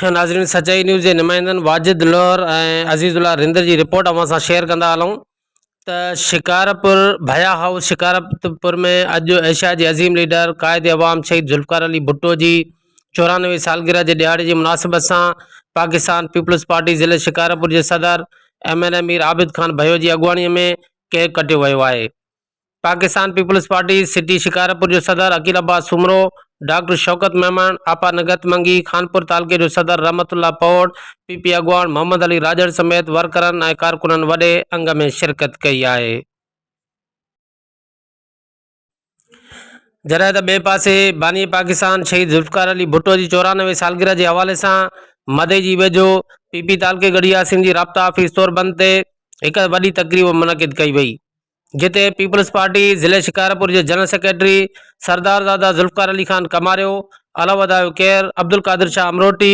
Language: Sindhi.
ناظرين سچائي نيوز جي نمائندن واجد لوهر ۽ عزيز الله رندر جي رپورٽ اوهان سان شيئر ڪندا هلون ته شڪارپور ڀيا هائوس شڪارپور ۾ اڄ ايشيا جي عظيم ليڊر قائد عوام شهيد ذوالفقار علي ڀٽو جي چورانوي سالگرهه جي ڏهاڙي جي مناسبت سان پاڪستان پيپلز پارٽي ضلعي شڪارپور جي صدر M N A Mir Abid Khan Bhayo جي اڳواڻي ۾ ڪيڪ ڪٽيو ويو آهي پاڪستان پيپلز پارٽي سٽي شڪارپور جو صدر عقيل عباس سومرو ڊاڪٽر شوڪت ميمڻ آپا نگهت منگي خانپور تعلقي جو صدر رحمت الله پوڙ پي پي اڳواڻ محمد علي راڄڙ سميت ورڪرن ۽ ڪارڪنن وڏي انگ ۾ شرڪت ڪئي آهي جڏهن ته ٻئي پاسي باني پاڪستان شهيد ذوالفقار علي ڀٽو جي چورانوي سالگرهه جي حوالي سان مدي جي ويجهو پي پي تعلقي ڳڙهي ياسين جي رابطا آفيس طور بند تي هڪ وڏي تقريب منعقد ڪئي وئي جتي پيپلز پارٽي ضلع شڪارپور جي جنرل سيڪريٽري سردارزاده ذوالفقار علي خان ڪماريو علو ادايو کير عبدالقادر شاهه امروٽي